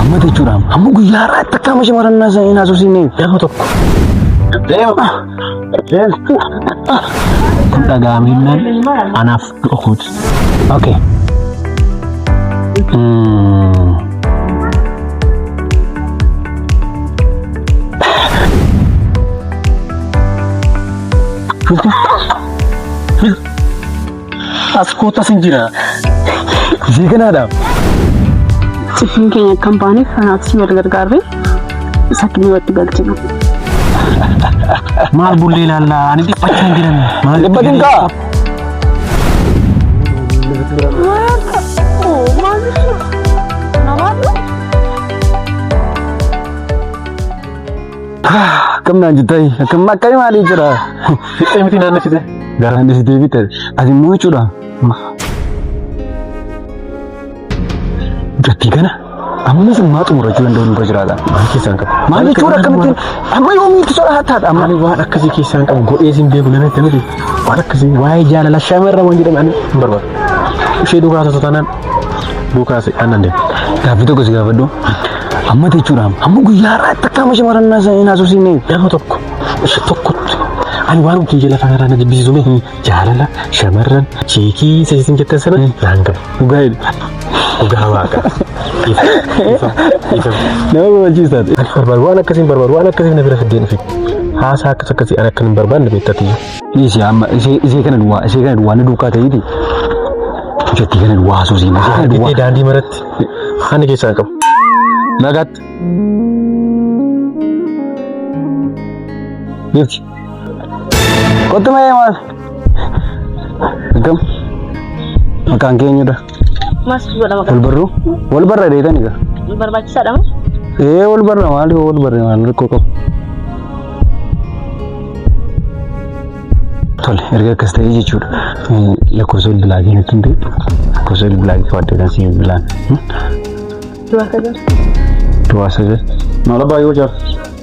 Amma jechuudhaan amma guyyaa irraatti akka amma shamarannaa sana hin haasofsiisne yeroo tokko. Deema. Deema. Kun dhagaa'amennaan anaaf Okoot. Okay. Mm. As kootas hin jira. Ishee kanaadha. Cifriin keenya kan baaneef kanaafis wal gargaarree sakkii walitti galchina. Maal bullee ilaallaa? Ani dhiphachaa hin jiran. Maal Dhiphatin kaa? Akkamnaan jettai akkam akkamii maalii jira? Fixee miti naannoo fixee. Garaan deesitee fixee. Ati immoo jechuudha. Dubbii kana ammas ammaa xumurachuu danda'u nurra jiraata. Waan keessaan qabu. Maal jechuudha akkamittiin amma yoomiitti soda hattaadha amma. Ani waan akkasii keessaan qabu godhee siin beeku nama itti miti. Waan akkasii waa'ee jaalala shamarra waan jedhame ani hin barbaadu. Ishee duukaa haasoftu taanaan duukaa si aannan deema. Gaaffii tokko si gaafadhu. Amma jechuudha amma guyyaa irraa itti akkaama shamarran naasa hin haasofsiisne. Nama tokko isa tokkotti ani waan nuti jala fayyadamna jibbisiisume jaalala shamarran sheekii isa isin jettan sana naan galu. Dhugaa jedhu. Dhugaa waaqa. Ifa ifa ifa. Nama gammachiisaati. Ani barbaadu waan akkasiin barbaadu waan akkasiin na bira fiddeen dhufe. Haasaa akkas akkasii ani akka hin barbaanne beektatiyyu. Dhiisi amma ishee ishee kana duwwaa ishee kana duwwaa na duukaa ta'eeti. Jettii kana duwwaa haasoo siin ishee kana Argitee duwwaa. daandii maratti ani keessaan qabu. Nagaatti. Jirti. Kottu mee maal? Akkam? Maqaan kee eenyudha? Mas godha maqaa. Wal barruu? Wal barra deetan egaa. Barbaachisaadha moo? Ee wal barra maal yoo wal barre maal rakkoo qabu? Tole erga akkas ta'ee jechuudha. Eh, Lakkoofsa bilbilaa kee natti himte. Lakkoofsa bilbilaa kee fudhadhee kan si bilbilaan. Du'a kaza. Duwwaa sagal. Maal abbaa yoo jaaf?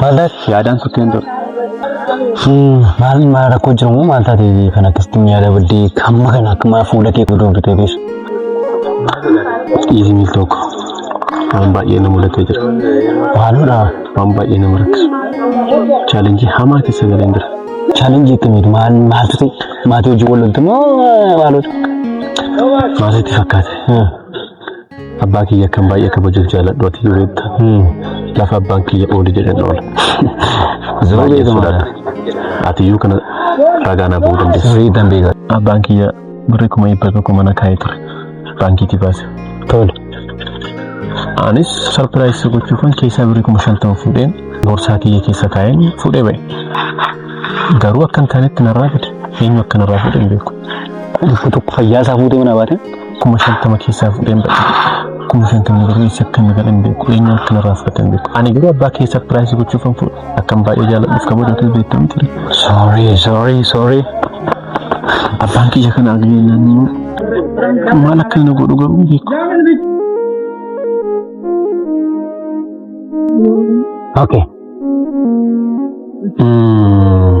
Mallaatti yaadaan kuteen ture. Maal maal rakkoo jiru moo maal taatee kan akkasitti miyaa dabaddee kamma kan akkumaa fuula kee godhuu bitee beesu. Dhiisni tokko waan baay'ee na mudatee jira. Maaludha waan baay'ee nama rakkisu. Chaalenjii hamaa keessa galeen jira. Chaalenjii akkamiiti maal maaltu ta'e maatii hojii wal loltu moo maalota? Maalitti fakkaate? Abbaa kiyya akkan baay'ee kabajuuf jaaladhu ati yoo beekta. Lafa abbaan kiyya ooli jedhan oola. Ziroo Baay'ee beekamaa. sodaadha. Ati iyyuu kana ragaa naaf ba'uu dandeessa. Sirrii ittiin beekaa. Abbaan kiyya birri kuma dhibba tokko mana kaa'ee ture. Baankiitii baase. Tole. Anis sarpiraayisii gochuufan keessaa birri kuma shantama fuudheen boorsaa kiyya keessa kaa'een fuudhee ba'e. Garuu akka hin taanetti narraa fide. Eenyu akka narraa fide hin beeku. Dhibba tokko fayyaa isaa fuutee mana baate. kuma shantama keessaa fudheen badhe kuma shantama garuu isa akka nagaa hin beeku eenyuun akka narraa fudhate hin beeku ani garuu abbaa kee sarpiraayisii gochuuf hin fudhu akkan baay'ee jaaladhuuf kabajatu beektamu ture sorry sorry sorry abbaan kiyya kana agneennaan immoo maal akka inni godhu garuu hin beeku Okay. Mm.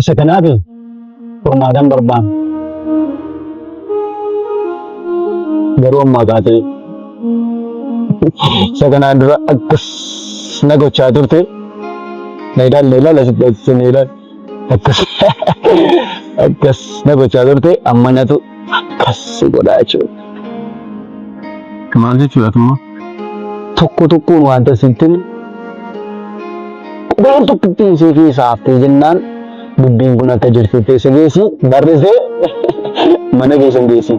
Isa kanaaf furmaatan barbaanna. Garuu ammaa kaatee isa kanaan dura akkas na gochaa turte na ilaali na ilaali asitti asitti na ilaali. akkas akkas na gochaa turte amma natu akkas si godhaa jechuudha. Maal jechuudha tumma? Tokko tokkoon wanta sitti himu qubeen tokko ittiin si keessaa haftee jennaan dubbiin kun akka jirtutti isa geessi barrisee mana keessa hin geessi.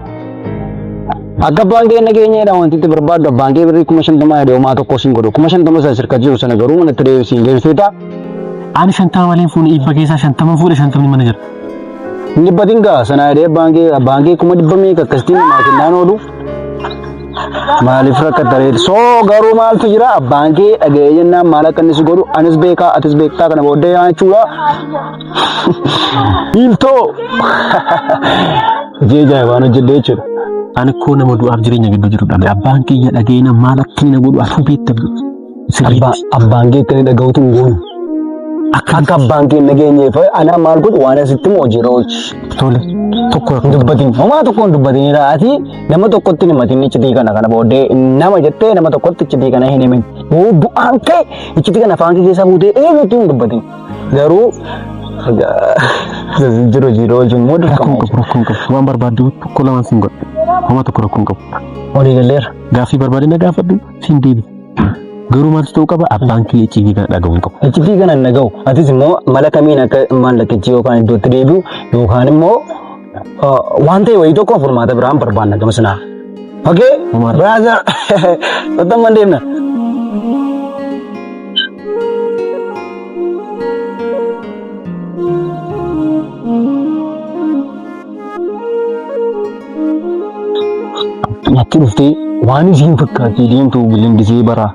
Akka abbaan kee nageenya jedha wanti itti barbaaddu abbaan kee birrii kuma shantama yaada homaa tokko siin godhu kuma shantama sana sirka jiru sana garuu mana itti deebiin siin deebisee ta'a. Ani shantama malee fuune dhibba keessaa shantama fuudhe shantamni mana jira. Hin dhibbatin gaa sana yaadee abbaan kee abbaan kee kuma dhibba meeqa akkasitti namaa kennaan oolu. Maaliif rakkatta reetu? Soo garuu maaltu jira abbaan kee dhaga'ee jennaan maal akka inni si godhu anis beekaa atis beektaa kana booddee yaa jechuudha. Biiltoo! Hojii ajaa'ibaan hojjedhe jechuudha. Ani koo nama du'aaf jireenya gidduu jiru dhabe. Abbaan kiyya dhaga'ina maal akka inni na godhu asuu beekta. Abbaa abbaan kee akka inni dhaga'utu hin goonu. Akka Akka abbaan kee hin dhageenyeef anaa maal godhu waan asitti moo hojii rooti. tole tokko Hin dubbatin. Homaa tokko hin dubbatin. Ati nama tokkotti hin himatin iccitii kana kana booddee nama jettee nama tokkotti iccitii kana hin himin. Yoo du'aan kee iccitii kana afaan kee keessa fuutee eenyutti hin dubbatin. Garuu jiru hojii irra oolchuun immoo dirqama. Rakkoo hin qabu. Waan barbaaddu tokko lamaan siin godha. Homaa tokko rakkoo hin qabu. Olii galleera. Gaaffii barbaadde na gaafadhu siin deebi. Garuu maaltu ta'uu qaba abbaan kee icciitii kana dhaga'uu hin qabu. Iccitii kana hin dhaga'u. Atis immoo mala kamiin akka maallaqichi yookaan iddootti deebi'u yookaan immoo Waan ta'e wayii tokko furmaata biraan barbaanna gama sanaa. Okee? Braaza! Ottamman deemna. Natti dhuftee waan isiin fakkaattii deemtu bilindisee baraa.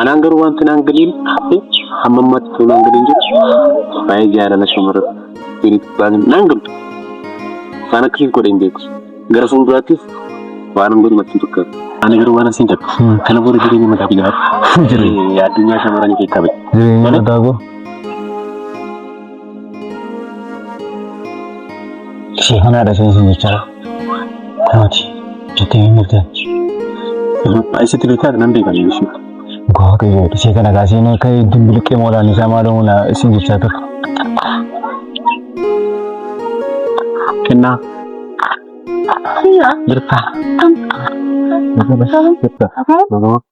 Anaan garuu wanti naan galiin hafe hamma ammaatti ta'uu naan galiin jiru baay'ee jaalala shamarran dhiiritti baay'een naan galu. Waan akkasiif godhe hin beeku. Gara fuulduraattis waan hin godhu natti hin fakkaatu. Ani garuu waan asiin jedhu kana booda jireenya mataa fi jiraatu. Addunyaa shamarranii keessaa bahe. Jireenya mataa koo. Sifanaa dhagee isin jechaa kooti jettee hin mirteen. Isatti beekaa nan beekan jechuudha. Gogaa qayyoo dhisee kana kaasee inni akka iddoon biliqee moolaan isaa maaloo na isin jechaa ture. Kennaa. Jirtaa. Jirtaa. Jirtaa.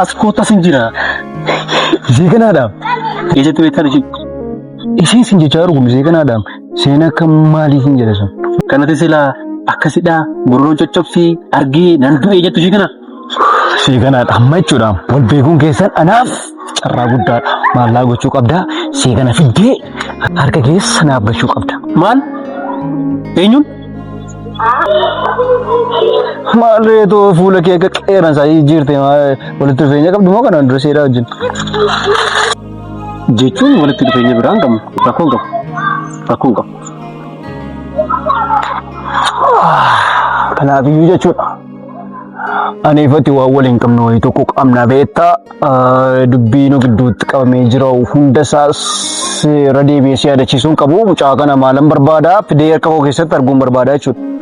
As kootta sin jira. Ishee kanaadhaaf. Eessatti beektan ishee? Ishee sin jechaa jiru kun ishee kanaadhaaf. Isheen akka maalii sin jedhe sun. Kanatti silaa akkasidhaa gurroon coccobsii argee nan du'e jettu ishee kana. Seeganaadha amma jechuudha. Wal beekuun keessan anaaf carraa guddaadha. Maallaa gochuu qabda. Seegana fiddee harka keessa naaf gachuu qabda. Maal? Eenyuun? Maal reetoo fuula kee akka qeeransaa jijjiirte walitti dhufeenya qabdu moo kanaan dura seeraa wajjin? Jechuun walitti dhufeenya biraan qabna. Rakkoon qabu. Rakkoon qabu. Kanaaf iyyuu jechuudha. Aneefati waan wal hin qabne wayii tokko qabna beektaa dubbii nu gidduutti qabamee jira hunda isaa seera deebi'ee si yaadachiisuun qabu mucaa kana maalan barbaada fidee harka koo keessatti arguun barbaada jechuudha.